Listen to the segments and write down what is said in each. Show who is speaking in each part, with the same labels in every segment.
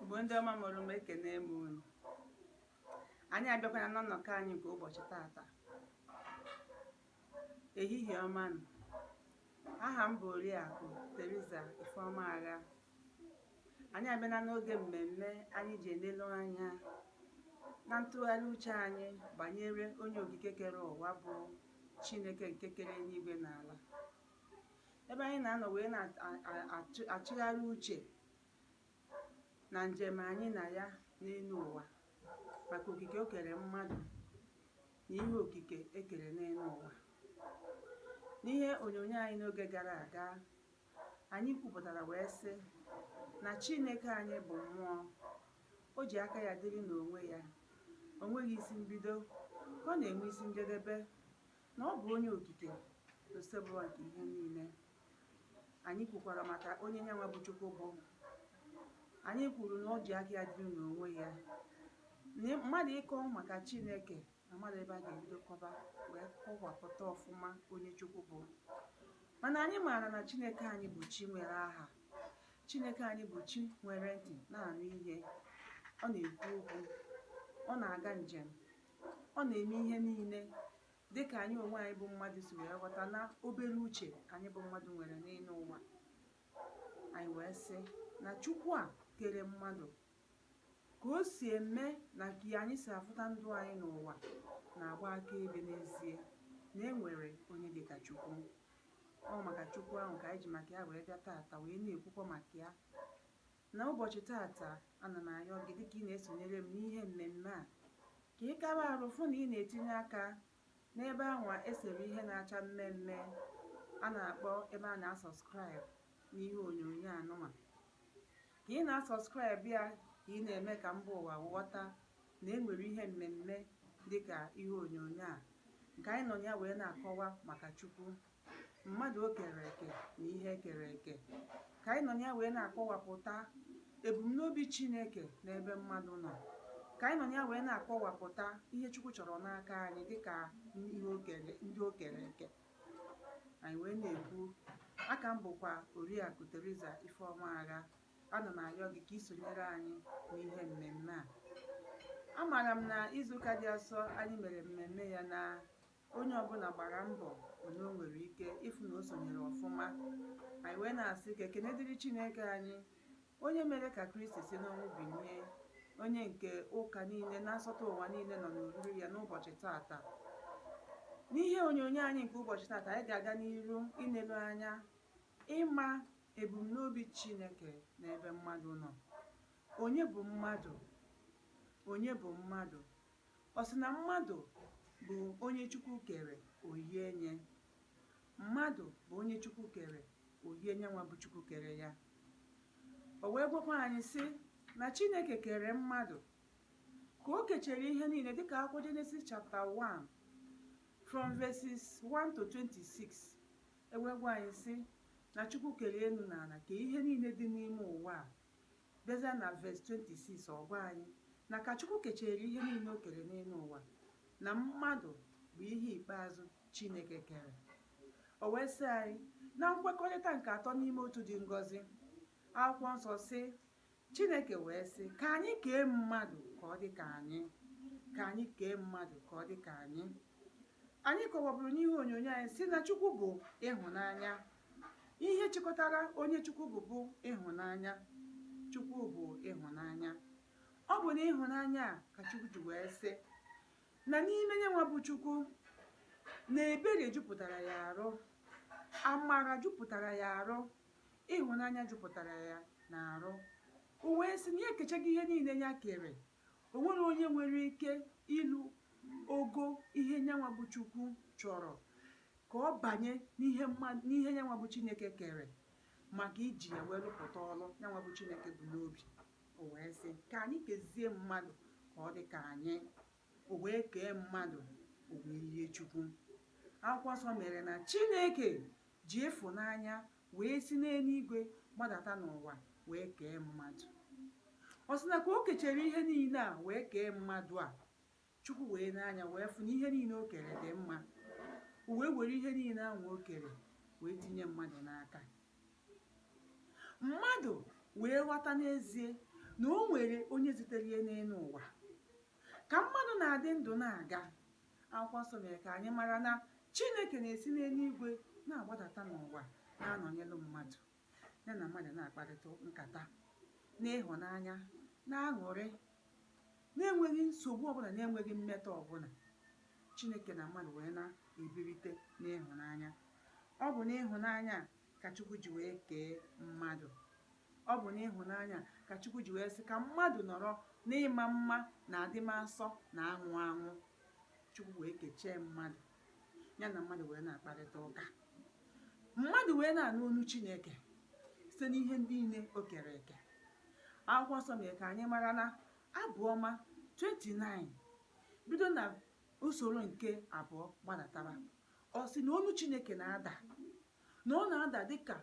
Speaker 1: Igbo ndị ọma mụrụ m ekene m unu anyị abịakwana na nnọkọ anyị nke ụbọchị tata ehihie ọma nụ aha m bụ Oriakụ Theresa Ifeoma Agha anyị abịana n'oge mmemme anyị ji elelu anya na ntụgharị uche anyị banyere onye okike kere ụwa bụ Chineke nke kere eluigwe na ala ebe anyị na-anọ wee na-achịgharị uche na njem anyị na ya n'elu ụwa maka okike o kere mmadụ na ihe okike e kere n'elu ụwa n'ihe onyonyo anyị n'oge gara aga anyị kwupụtara wee sị na Chineke anyị bụ mmụọ o ji aka ya dịrị n'onwe ya o nweghị isi mbido ka ọ na-enwe isi njedebe na ọ bụ onye okike na osebụwa nke ihe niile. Anyị kwukwara maka onye nyanwa bụ Chukwu bụ. Anyị kwuru na o ji aka ya dịrị n'onwe ya. Na mmadụ ịkọ maka Chineke na mmadụ ebe a ga-ebido kọba wee kọwapụta ọfụma onye Chukwu bụ. Mana anyị maara na Chineke anyị bụ chi nwere aha. Chineke anyị bụ chi nwere ntị na-anụ ihe. Ọ na-ekwu okwu. Ọ na-aga njem. ọ na-eme ihe niile dị ka anyị onwe anyị bụ mmadụ si wee ghọta na obere uche anyị bụ mmadụ nwere n'elu ụwa anyị wee sị na chukwu a kere mmadụ ka o si eme na ka anyị si afụta ndụ anyị n'ụwa na-agba akaebe n'ezie na e nwere onye dị ka chukwu ọ maka chukwu ahụ ka anyị ji maka ya wee bịa taata wee na-ekwukwa maka ya Na ụbọchị tata, ana m ayọ gị dịka ị na-esonyere m n'ihe mmemme a, ka ị kaba arụ fụ na ị na-etinye aka n'ebe anwa e sere ihe na-acha mme mme a na-akpọ ebe a na-asubscribe n'ihe onyonyo anụnwa. Ka ị na-asubscribe ya ka ị na-eme ka mba ụwa ghọta na e nwere ihe mmemme dịka ihe onyonyo a nke anyị nọ na ya wee na-akọwa maka Chukwu. mmadụ o kere eke na ihe e kere eke ka anyị nọ na ya wee na-akọwapụta ebumnobi Chineke n'ebe mmadụ nọ ka anyị nọ na ya wee na-akọwapụta ihe Chukwu chọrọ n'aka anyị dịka ndị o kere eke anyị wee na-ekwu aka m bụkwa Oriakụ Theresa Ifeoma Agha ana m ayọ gị ka ị sonyere anyị n'ihe mmemme a amaara m na izuụka dị asọ anyị mere mmemme ya na onye ọbụla gbara mbọ onye o nwere ike ịfụ na o sonyere ọfụma anyị wee na-asị ka ekene dịrị Chineke anyị onye mere ka Kristi si n'ọnwụ binie onye nke ụka niile na nsọtụ ụwa niile nọ n'oriri ya n'ụbọchị tata n'ihe onyonyo anyị nke ụbọchị tata anyị ga-aga n'iru inelu anya ịma ebumnobi Chineke n'ebe mmadụ nọ onye bụ mmadụ onye bụ mmadụ Ọ sị na mmadụ bụ onye Chukwu kere, o yie nye. Mmadụ bụ onye Chukwu kere, o yie nyanwa bụ Chukwu kere ya. O wee gwakwa anyị sị na Chineke kere mmadụ ka o kechere ihe niile dịka akwụkwọ Genesis chapter 1 from verses 1 to 26 e wee gwa anyị sị na Chukwu kere elu na ala kee ihe niile dị n'ime ụwa a Bịazịa na verse 26, ọ gwa anyị na ka Chukwu kechere ihe niile o kere n'elu ụwa, na mmadụ bụ ihe ikpeazụ Chineke kere. O wee sị anyị, na nkwekọrịta nke Atọ n'Ime Otu dị ngọzi, Akwụkwọ Nsọ sị, Chineke wee sị, ka anyị kee mmadụ ka ọ dị ka anyị, ka anyị kee mmadụ ka ọ dị ka anyị. Anyị kọwaburu n'ihe onyonyo anyị sị na Chukwu bụ ịhụnanya, Ihe chịkọtara onye Chukwu bụ bụ ịhụnanya. Chukwu bụ ịhụnanya. Ọ bụ n'ịhụnanya a ka Chukwu ji wee sị na n'ime nyanwa bụ Chukwu na ebere jupụtara ya arụ, amara jupụtara ya arụ, ịhụnanya jupụtara ya na arụ. O wee sị na ya ekechaghị ihe niile ya kere O nwere onye nwere ike ilu ogo ihe nyanwa bụ Chukwu chọrọ ka ọ banye n'ihe nyanwa bụ Chineke kere maka iji ya wee lụpụta ọlụ nyanwa bụ Chineke bu n'obi o wee sị ka anyị kezie mmadụ ka ọ dị ka anyị o wee kee mmadụ o wee yie Chukwu akwụkwọ nsọ mere na Chineke ji ịfụnanya wee si n'eluigwe gbadata n'ụwa wee kee mmadụ ọ sị na ka o kechere ihe niile a wee kee mmadụ a Chukwu wee nee anya wee fụ na ihe niile o kere dị mma o wee were ihe niile ahụ o kere wee tinye mmadụ n'aka mmadụ wee ghọta n'ezie na o nwere onye zitere ya n'elu ụwa ka mmadụ na-adị ndụ na-aga Akwụkwọ Nsọ mere ka anyị mara na Chineke na-esi n'eluigwe na-agbadata n'ụwa na-anọnyelụ mmadụ, ya na mmadụ na-akparịta nkata n'ịhụnanya na aṅụrị na-enweghị nsogbu ọbụla na-enweghị mmetọ ọbụla Chineke na mmadụ wee na-ebirite n'ịhụnanya ọ bụ n'ịhụnanya ka Chukwu ji wee kee mmadụ Ọ bụ n'ịhụnanya ka Chukwu ji wee sị ka mmadụ nọrọ n'ịma mma na adịmasọ na anwụ anwụ. Chukwu wee kechee mmadụ, ya na mmadụ wee na-akparịta ụka. Mmadụ wee na-anụ onu Chineke site n'ihe ndị niile o kere eke. Akwụkwọ nsọ mere ka anyị mara na Abụ Ọma 29 bido na usoro nke abụọ gbadatara ọ sị na onu Chineke na-ada na ọ na-ada dịka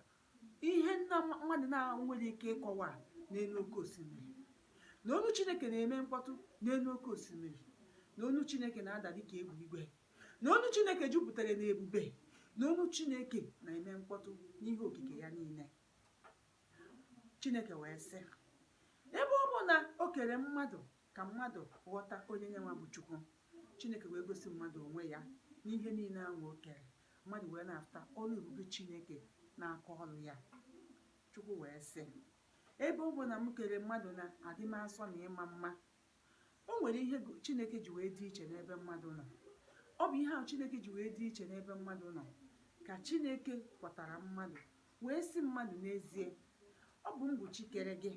Speaker 1: ihe nwa mmadụ na-enwere ike ịkọwa n'enu oke osimiri na onu chineke na-eme mkpọtụ n'enu oke osimiri na onu chineke na-ada dịka egbe igwe na onu chineke jupụtara na ebube na onu chineke na-eme mkpọtụ n'ihe okike ya niile chineke wee sị ebe ọ bụ na o kere mmadụ ka mmadụ ghọta onye nyenwa bụ chukwu chineke wee gosi mmadụ onwe ya n'ihe niile ahụ o kere Mmadụ wee na-afụta ọrụ ebube Chineke n'aka ọrụ ya. Chukwu wee sị, Ebe ọ bụ na m kere mmadụ na adịmasọ na ịma mma, o nwere ihe Chineke ji wee dị iche n'ebe mmadụ nọ. Ọ bụ ihe ahụ Chineke ji wee dị iche n'ebe mmadụ nọ ka Chineke kọwatara mmadụ wee sị mmadụ n'ezie ọ bụ m bụ Chi kere gị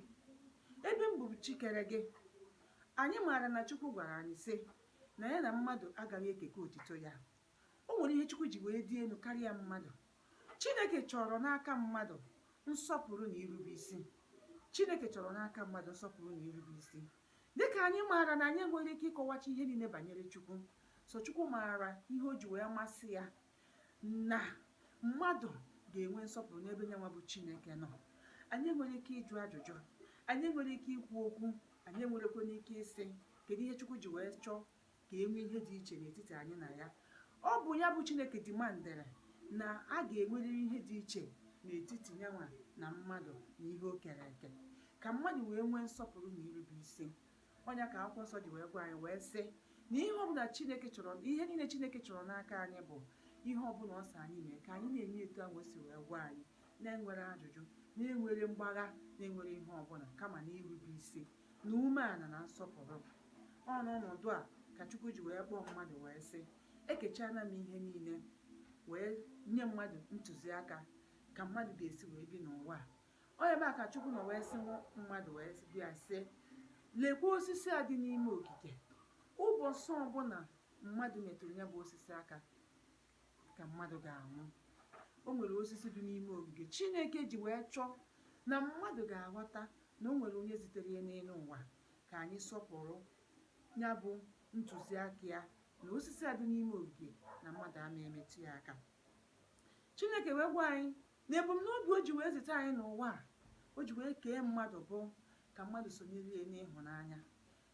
Speaker 1: ebe m bụ Chi kere gị anyị maara na Chukwu gwara anyị sị na ya na mmadụ agaghị ekeke otito ya O nwere ihe Chukwu ji wee dị enu karịa mmadụ. Chineke chọrọ n'aka mmadụ nsọpụrụ na irube isi. Chineke chọrọ n'aka mmadụ nsọpụrụ na irube isi. Dịka anyị maara na anyị enweghị ike ịkọwacha ihe niile banyere Chukwu, sọ Chukwu maara ihe o ji wee masị ya na mmadụ ga-enwe nsọpụrụ n'ebe nyenwa bụ Chineke nọ. Anyị enweghị ike ịjụ ajụjụ, anyị enweghị ike ikwu okwu, anyị enwerekwanụ ike ịsị kedu ihe Chukwu ji wee chọọ ka e nwee ihe dị iche n'etiti anyị na ya. Ọ bụ ya bụ Chineke demandịrị na a ga-enwerịrị ihe dị iche n'etiti yanwa na mmadụ na ihe o kere eke ka mmadụ wee nwee nsọpụrụ na irube isi. Ọ ya ka akwụkwọ nsọ ji wee gwa anyị wee sị na ihe ọbụla Chineke chọrọ ihe niile Chineke chọrọ n'aka anyị bụ ihe ọbụla ọ sị anyị mee ka anyị na-eme etu ahụ o si wee gwa anyị na-enwere ajụjụ na-enwere mgbagha na-enwere ihe ọbụla kama na irube isi na umeana na nsọpụrụ. Ọ n'ọnọdụ a ka Chukwu ji wee kpọọ mmadụ wee sị, Ekechaana m ihe niile wee nye mmadụ ntụziaka ka mmadụ ga-esi wee bi n'ụwa a. Ọ ebe a ka Chukwu nọ wee sị mmadụ wee bịa sị, lekwa osisi a dị n'ime ogige. Ụbọchị ọbụla mmadụ metụrụ ya bụ osisi aka, ka mmadụ ga-anwụ o nwere osisi dị n'ime ogige chineke ji wee chọọ na mmadụ ga-aghọta na o nwere onye zitere ya n'elu ụwa ka anyị sọpụrụ ya bụ ntụziaka ya na osisi a dị n'ime ogige na mmadụ ama emetụ ya aka chineke wee gwa anyị na ebumnobi o ji wee zite anyị n'ụwa a o ji wee kee mmadụ bụ ka mmadụ sonyere ya n'ịhụnanya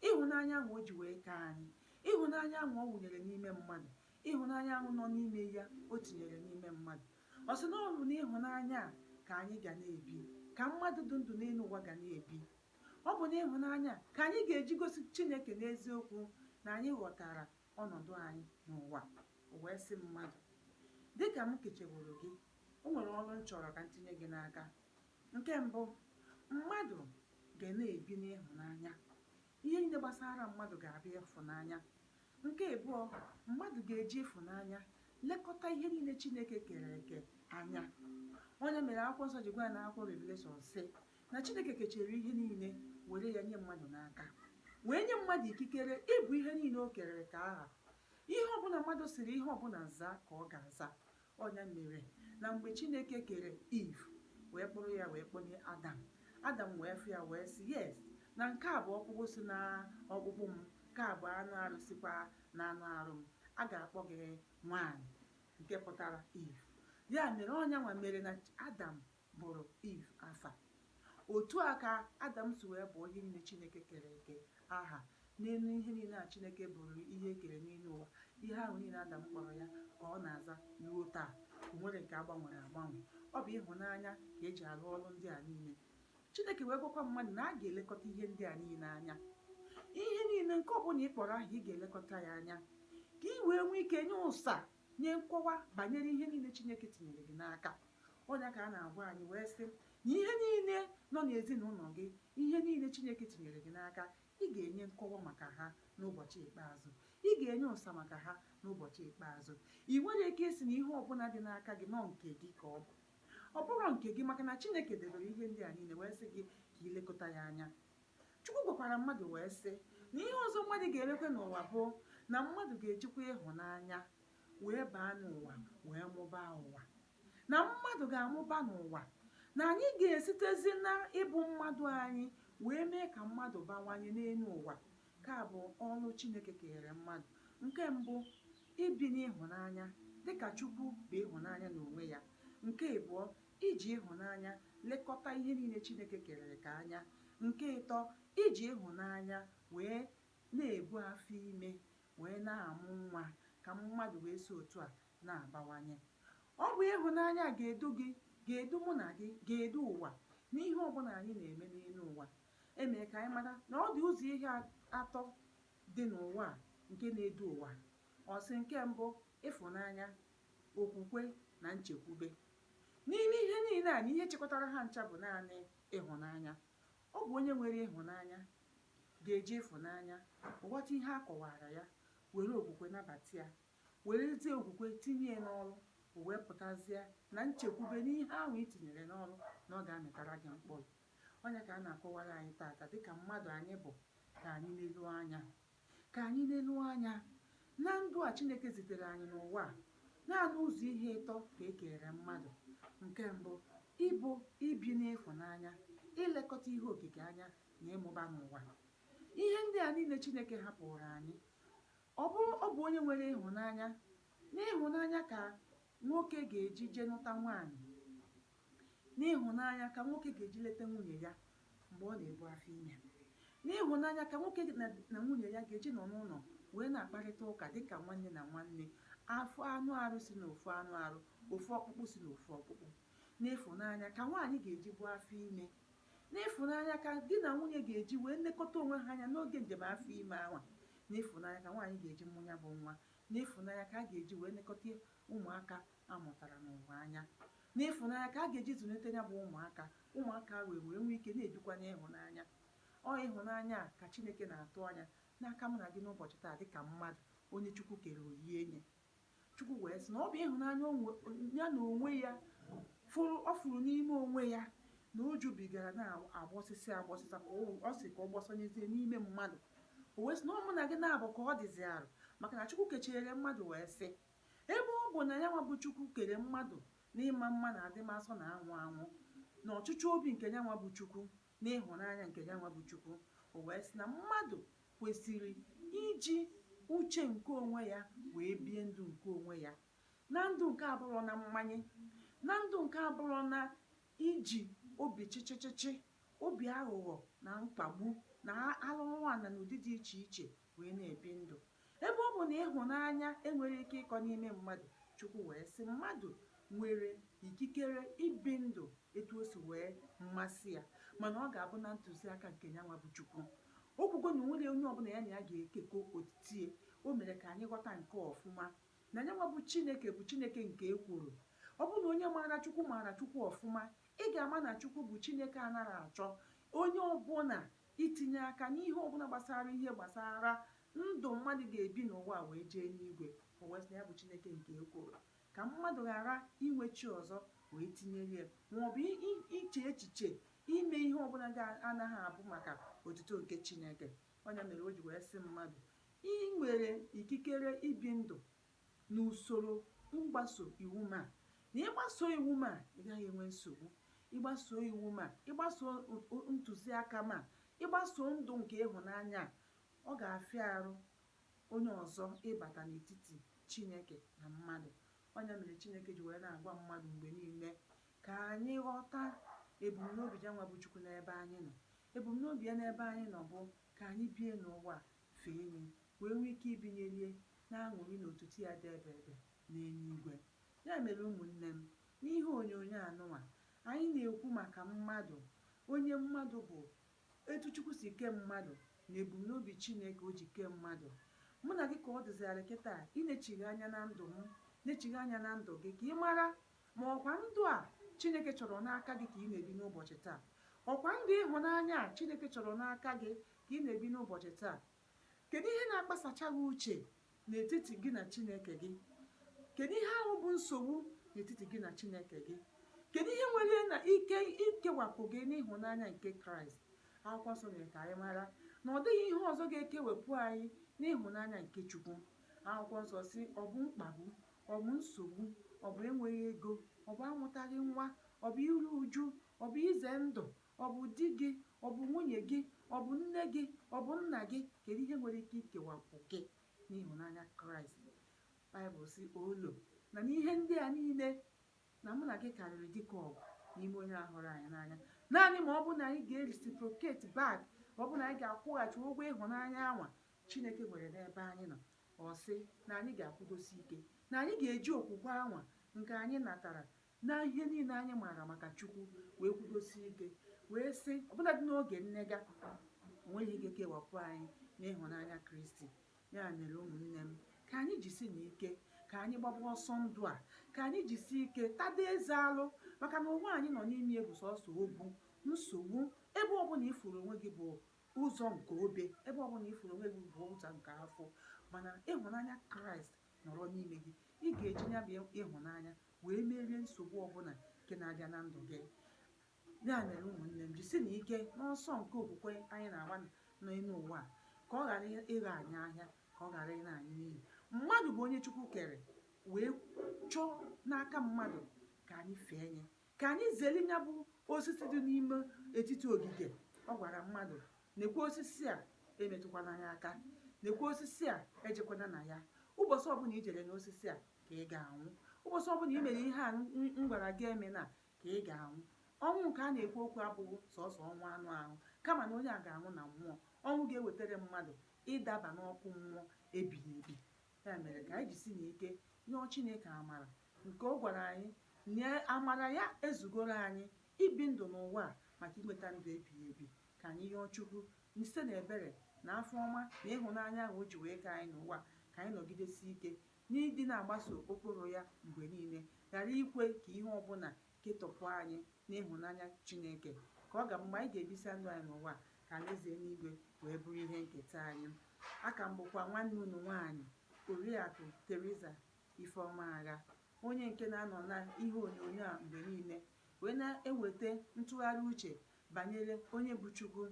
Speaker 1: ịhụnanya ahụ o ji wee kee anyị ịhụnanya ahụ ọ wụnyere n'ime mmadụ Ịhụnanya ahụ nọ n'ime ya o tinyere n'ime mmadụ. Ọ sị na ọ bụ n'ịhụnanya a ka anyị ga na-ebi, ka mmadụ dị ndụ n'elu ụwa ga na-ebi. Ọ bụ n'ịhụnanya a ka anyị ga-eji gosi Chineke n'eziokwu na anyị ghọtara ọnọdụ anyị n'ụwa. O wee sị mmadụ, Dị ka m kecheworo gị, o nwere ọrụ m chọrọ ka m tinye gị n'aka. Nke mbụ, mmadụ ga na-ebi n'ịhụnanya. Ihe niile gbasara mmadụ ga-abụ ịhụnanya. Nke ịbụọ, mmadụ ga-eji ịfụnanya lekọta ihe niile Chineke kere eke anya. Ọ nya mere akwụkwọ nsọ ji gwa anyị na akwụkwọ Revelation sị na Chineke kechere ihe niile were ya nye mmadụ n'aka wee nye mmadụ ikikere ịbụ ihe niile o kere eke aha. Ihe ọbụla mmadụ siri ihe ọbụla zaa ka ọ ga-aza. Ọ nya mere na mgbe Chineke kere Eve wee kpụrụ ya wee kpụnye Adam, Adam wee fụ ya wee sị, Yes, na nke a bụ ọkpụkpụ si n'ọkpụkpụ m, nke a bụ anụ arụ sikwa n'anụ arụ m. A ga-akpọ gị Nwaanyị, nke pụtara Eve. Ya mere, ọ nyanwa mere na Adam bụrụ Eve afa. Otu a ka Adam si wee bụọ ihe niile Chineke kere eke aha. N'elu ihe niile a Chineke bụrụ ihe e kere n'elu ụwa, ihe ahụ niile Adam kpọrọ ya ka ọ na-aza ruo taa. O nwerọ nke a gbanwere agbanwe. Ọ bụ ịhụnanya ka e ji arụ ọrụ ndị a niile. Chineke wee gwakwa mmadụ na a ga-elekọta ihe ndị a niile anya. Ihe niile nke ọbụla ị kpọrọ aha ị ga-elekọta ya anya ka i wee nwee ike nye ụsa Nye nkọwa banyere ihe niile Chineke tinyere gị n'aka. Ọ ya ka a na-agwa anyị wee sị na ihe niile nọ n'ezinụlọ gị, ihe niile Chineke tinyere gị n'aka, ị ga-enye nkọwa maka ha n'ụbọchị ikpeazụ. Ị ga-enye ụsa maka ha n'ụbọchị ikpeazụ. Ị nwere ike ịsị na ihe ọbụla dị n'aka gị na ọ nke gị ka ọ bụ. Ọ bụrọ nke gị maka na Chineke debere ihe ndị a niile wee sị gị ka i lekọta ya anya. Chukwu gwakwara mmadụ wee sị na ihe ọzọ mmadụ ga-emekwe n'ụwa bụ na mmadụ ga-ejikwa ịhụnanya wee baa n'ụwa wee mụbaa ụwa na mmadụ ga-amụba n'ụwa na anyị ga-esitezi na ịbụ mmadụ anyị wee mee ka mmadụ bawanye n'elu ụwa nke a bụ ọrụ Chineke kenyere mmadụ nke mbụ ibi n'ịhụnanya dịka Chukwu bụ ịhụnanya n'onwe ya nke ịbụọ Iji ịhụnanya lekọta ihe niile Chineke kere eke anya. Nke ịtọ, iji ịhụnanya wee na-ebu afọ ime wee na-amụ nwa ka mmadụ wee si otu a na-abawanye. Ọ bụ ịhụnanya a ga-edu gị, ga-edu mụ na gị, ga-edu ụwa n'ihe ọ bụla anyị na-eme n'elu ụwa. E mere ka anyị mara na ọ dị ụzọ ihe a- atọ dị n'ụwa a nke na-edu ụwa. Ọ sị nke mbụ, ịfụnanya, okwukwe na nchekwube. N'ime ihe niile a na ihe chịkọtara ha ncha bụ naanị ịhụnanya. Ọ bụ onye nwere ịhụnanya ga-eji ịfụnanya ghọta ihe a kọwaara ya, were okwukwe nabata ya, werezie okwukwe tinye ya n'ọrụ, o wee pụtazie na nchekwube n'ihe ahụ i tinyere n'ọrụ na ọ ga-amịtara gị mkpụrụ. Ọ nya ka a na-akọwara anyị tata dịka mmadụ anyị bụ ka anyị leruo anya Ka anyị leruo anya na ndụ a Chineke zitere anyị n'ụwa a. Naanị ụzọ ihe ịtọ ka e keere mmadụ. Nke mbụ, ịbụ, ibi n'ịhụnanya, ilekọta ihe okike anya, na ịmụba n'ụwa. Ihe ndị a niile Chineke hapụụrụ anyị. Ọ bụ ọ bụ onye nwere ịhụnanya. N'ịhụnanya ka nwoke ga-eji je nụta nwaanyị. N'ịhụnanya ka nwoke ga-eji leta nwunye ya mgbe ọ na-ebu afọ ime. N'ịhụnanya ka nwoke na na nwunye ya ga-eji nọ n'ụlọ wee na-akparịta ụka dị ka nwanne na nwanne, ofu anụ arụ si n'ofu anụ arụ, ofu ọkpụkpụ si n'ofu ọkpụkpụ. N'ịfụnanya ka nwaanyị ga-eji bu afọ ime. N'ịfụnanya ka di na nwunye ga-eji wee nekọta onwe ha anya n'oge njem afọ ime anwa. N'ịfụnanya ka nwaanyị ga-eji mụ ya bụ nwa. N'ịfụnanya ka a ga-eji wee nekọta ụmụaka a mụtara n'ụwa anya. N'ịfụnanya ka a ga-eji zụlite ya bụ ụmụaka, ụmụaka wee wee nwee ike na-ebikwa n'ịhụnanya. Ọ ịhụnanya a ka Chineke na-atụ anya n'aka mụ na gị n'ụbọchị taa dị ka mmadụ, onye Chukwu kere o yie nye. Chukwu wee sị na ọ bụ ịhụnanya ya na onwe ya fụrụ ọ fụrụ n'ime onwe ya na o jubigara na-agbọsịsị agbọsịsa ka ọ sị ka ọ gbọsanyezie n'ime mmadụ o wee sị na ọ mụ na gị na-abụ ka ọ dịzi arụ maka na Chukwu kechere mmadụ wee sị Ebe ọ bụ na yanwa bụ Chukwu kere mmadụ n'ịma mma na adịmasọ na anwụ anwụ, na ọchịchọ obi nke yanwa bụ Chukwu, na ịhụnanya nke yanwa bụ Chukwu, o wee sị na mmadụ kwesiri iji uche nke onwe ya wee bie ndụ nke onwe ya, na ndụ nke abụrọ na mmanye, na ndụ nke abụrọ na iji obi chịchịchịchị, obi aghụghọ na mkpagbu, na arụrụala n'ụdị dị iche iche wee na-ebi ndụ. Ebe ọ bụ na ịhụnanya enweghị ike ịkọ n'ime mmadụ, Chukwu wee sị, Mmadụ nwere ikikere ibi ndụ etu o si wee masị ya, mana ọ ga-abụ na ntụziaka nke yanwa bụ Chukwu. O kwugo na o nweghị onye ọbụla ya na ya ga-ekekọ otito ya. O mere ka anyị ghọta nke a ọfụma, na yanwa bụ Chineke bụ Chineke nke ekworo. Ọ bụrụ na onye maara Chukwu maara Chukwu ọfụma, ị ga-ama na Chukwu bụ Chineke anaghị achọ onye ọbụla Itinye aka n'ihe ọ bụla gbasara ihe gbasara ndụ mmadụ ga-ebi n'ụwa wee jee n'igwe. O wee sị na ya bụ Chineke nke ekworo, ka mmadụ ghara inwe chi ọzọ wee tinyere ya, ma ọ bụ iche echiche ime ihe ọ bụla na-agaghị abụ maka otuto nke Chineke. Ọ ya mere o ji wee sị mmadụ, I nwere ikikere ibi ndụ n'usoro mgbaso iwu m a na ị gbasoo iwu m a ị gaghị enwe nsogbu ị gbasoo iwu m a ị gbasoo ntụziaka m a ị gbasoo ndụ nke ịhụnanya ọ ga-afịa arụ onye ọzọ ịbata n'etiti Chineke na mmadụ ọ ya mere Chineke ji wee na-agwa mmadụ mgbe niile ka anyị ghọta ebumnobi ya nwa bụ Chukwu n'ebe anyị nọ ebumnobi ya n'ebe anyị nọ bụ ka anyị bie n'ụwa fee ya wee nwee ike ibinyere ya n'aṅụrị na otito ya dị ebeebe n'eluigwe. Ya mere ụmụnne m, n'ihe onyonyo anụnwa, anyị na-ekwu maka mmadụ, onye mmadụ bụ, etu Chukwu si kee mmadụ na ebumnobi Chineke o ji kee mmadụ. Mụ na gị ka ọ dịzịrị kịta inechigha anya na ndụ m, nechigha anya na ndụ gị ka ị mara ma ọ kwa ndụ a Chineke chọrọ n'aka gị ka ị na-ebi n'ụbọchị taa. Ọ kwa ndụ ịhụnanya a Chineke chọrọ n'aka gị ka ị na-ebi n'ụbọchị taa. Kedụ ihe na-akpasacha gị uche n'etiti gị na Chineke gị? Kedụ ihe ahụ bụ nsogbu n'etiti gị na Chineke gị? Kedụ ihe nwere na ike ikewapụ gị n'ịhụnanya nke Kraịst? Akwụkwọ nsọ mere ka anyị mara na ọ dịghị ihe ọzọ ga-ekewepụ anyị n'ịhụnanya nke Chukwu. Akwụkwọ nsọ sị ọ bụ mkpagbu, ọ bụ nsogbu, ọ bụ enweghị ego, ọ bụ amụtaghị nwa, ọ bụ iru uju, ọ bụ ize ndụ, Ọ bụ di gị? Ọ bụ nwunye gị? Ọ bụ nne gị? Ọ bụ nna gị? Kedu ihe nwere ike ikewapụ gị n'ịhụnanya Kraịst? Baịbụl sị, Olo, na n'ihe ndị a niile, na mụ na gị karịrị dike ọgụ n'ime onye a hụrụ anyị n'anya. Naanị ma ọ bụ na anyị ga-ereciprocate back, ọ bụ na anyị ga-akwụghachi ụgwọ ịhụnanya anwa Chineke nwere n'ebe anyị nọ. Ọ sị na anyị ga-akwụdosi ike, na anyị ga-eji okwukwe anwa nke anyị natara na ihe niile anyị maara maka Chukwu wee kwudosie ike wee sị ọbụladị n'oge nnega onweghị ike kewapụ anyị n'ịhụnanya Kristi ya mere ụmụnne m ka anyị jisi na ike ka anyị gbaba ọsọ ndụ a ka anyị jisi ike tada eze alụ maka na ụwa anyị nọ n'ime bụ sọsọ ogwu nsogbu ebe ọbụla ị fụrụ onwe gị bụ ụzọ nke obe ebe ọbụla ị fụrụ onwe gị bụ ụzọ nke afụfụ mana ịhụnanya kraịst nọrọ n'ime gị ị ga-eji ya bụ ịhụnanya wee merie nsogbu ọbụla nke na-abịa na ndụ gị ya mere ụmụnne m jisi na ike n'ọsọ nke okwukwe anyị na-agba n'elu ụwa ka ọ ghara ịghọ anyị ahịa ka ọ ghara ịna anyị n'iyi mmadụ bụ onye chukwu kere wee chọọ n'aka mmadụ ka anyị fee nye ka anyị zere ya bụ osisi dị n'ime etiti ogige ọ gwara mmadụ nekwa osisi a emetụkwana ya aka nekwa osisi a ejekwana na ya ụbọchị ọbụla i jere n'osisi a ka ị ga-anwụ ụbọchị ọbụla i mere ihe a m gwara gị emena ka ị ga-anwụ ọnwụ nke a na-ekwu okwu abụghị sọsọ ọnwụ anụ ahụ kama na onye a ga-anwụ na mmụọ ọnwụ ga-ewetara mmadụ ịdaba n'ọkụ mmụọ ebighị ebi ya mere ka anyị jisi na ike yọọ Chineke amara nke ọ gwara anyị na amara ya ezugoro anyị ibi ndụ n'ụwa a maka inweta ndụ ebighị ebi ka anyị yọọ Chukwu site na ebere na afọ ọma na ịhụnanya ahụ o ji wee kee anyị n'ụwa ka anyị nọgidesi ike N'ịdị na-agbaso ụkpụrụ ya mgbe niile, ghara ikwe ka ihe ọ bụla ketọpụ anyị n'ịhụnanya Chineke, ka ọ ga-abụ mgbe anyị ga-ebisa ndụ anyị n'ụwa a ka Alaeze eluigwe wee bụrụ ihe nketa anyị. A ka m bụkwa nwanne unu nwaanyị, Oriakụ Theresa Ifeoma Agha, onye nke na-anọ na ihe onyonyo a mgbe niile wee na-eweta ntụgharị uche banyere onye bụ Chukwu,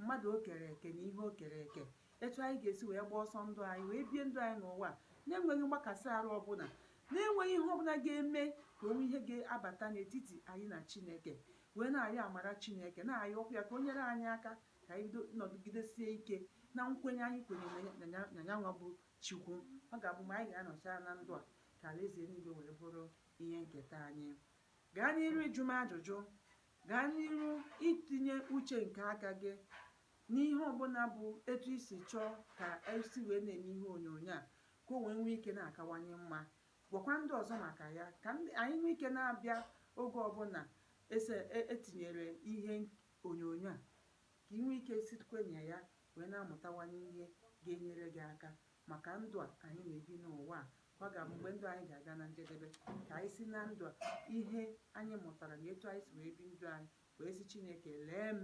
Speaker 1: mmadụ o kere eke na ihe o kere eke. etu anyị ga-esi wee gbaa ọsọ ndụ anyị wee bie ndụ anyị n'ụwa a na-enweghị mgbakasị arụ ọbụla na-enweghị ihe ọbụla ga-eme ka o nwee ihe ga-abata n'etiti anyị na chineke wee na-ayọ amara chineke na-ayọkwu ya ka o nyere anyị aka ka anyị nọgidesie ike na nkwenye anyị kwenye na ya- na yanwa bụ chukwu ọ ga-abụ mgbe anyị ga-anọcha na ndụ a ka alaeze eluigwe wee bụrụ ihe nketa anyị gaa n'iru ịjụ m ajụjụ Gaa n'iru itinye uche nke aka gị n'ihe ọbụla bụ etu i si chọọ ka e si wee na-eme ihe onyonyo a ka o wee nwee ike na-akawanye mma. Gwakwa ndị ọzọ maka ya ka anyị nwee ike na-abịa oge ọbụla e tinyere ihe onyonyo a ka ị nwee ike sitekwa na ya wee na-amụtawanye ihe ga-enyere gị aka maka ndụ a anyị na-ebi n'ụwa a Ka ọ ga-abụ mgbe ndụ anyị ga-aga na njedebe, ka anyị si na ndụ a, ihe anyị mụtara na etu anyị si wee bi ndụ anyị, wee sị Chineke, Lee m,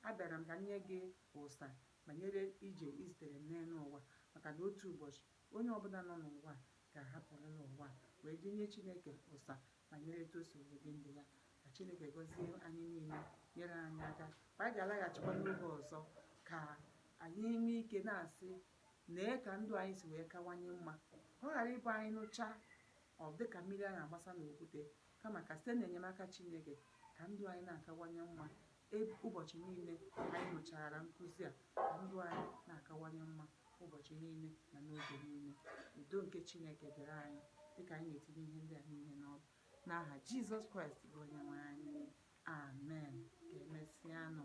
Speaker 1: abịara m ka m nye gị ụsa banyere ije i zitere m n'elu ụwa, maka na otu ụbọchị, onye ọbụla nọ n'ụwa a ga-ahapụrịrị ụwa a, wee jee nye Chineke ụsa banyere etu o si wee bi ndụ ya. Ka Chineke gọzie anyị niile, nyere anyị aka. Ka anyị ga-alaghachikwa n'oge ọzọ ka anyị nwee ike na-asị Lee ka ndụ anyị si wee kawanye mma! Ka ọ ghara ịbụ anyị nụchaa, ọ dị ka mmiri a na-agbasa n'okwute, kama ka site n'enyemaka Chineke, ka ndụ anyị na-akawanye mma e, ụbọchị niile anyị nụchara nkụzi a, ka ndụ anyị na-akawanye mma ụbọchị niile na n'oge niile. Udo nke Chineke dịrị anyị dị ka anyị na-etinye ihe ndị a niile n'ọrụ. N'aha Jizọs Kraịst bụ Onyenwe anyị, amen. Ka emesịanụ.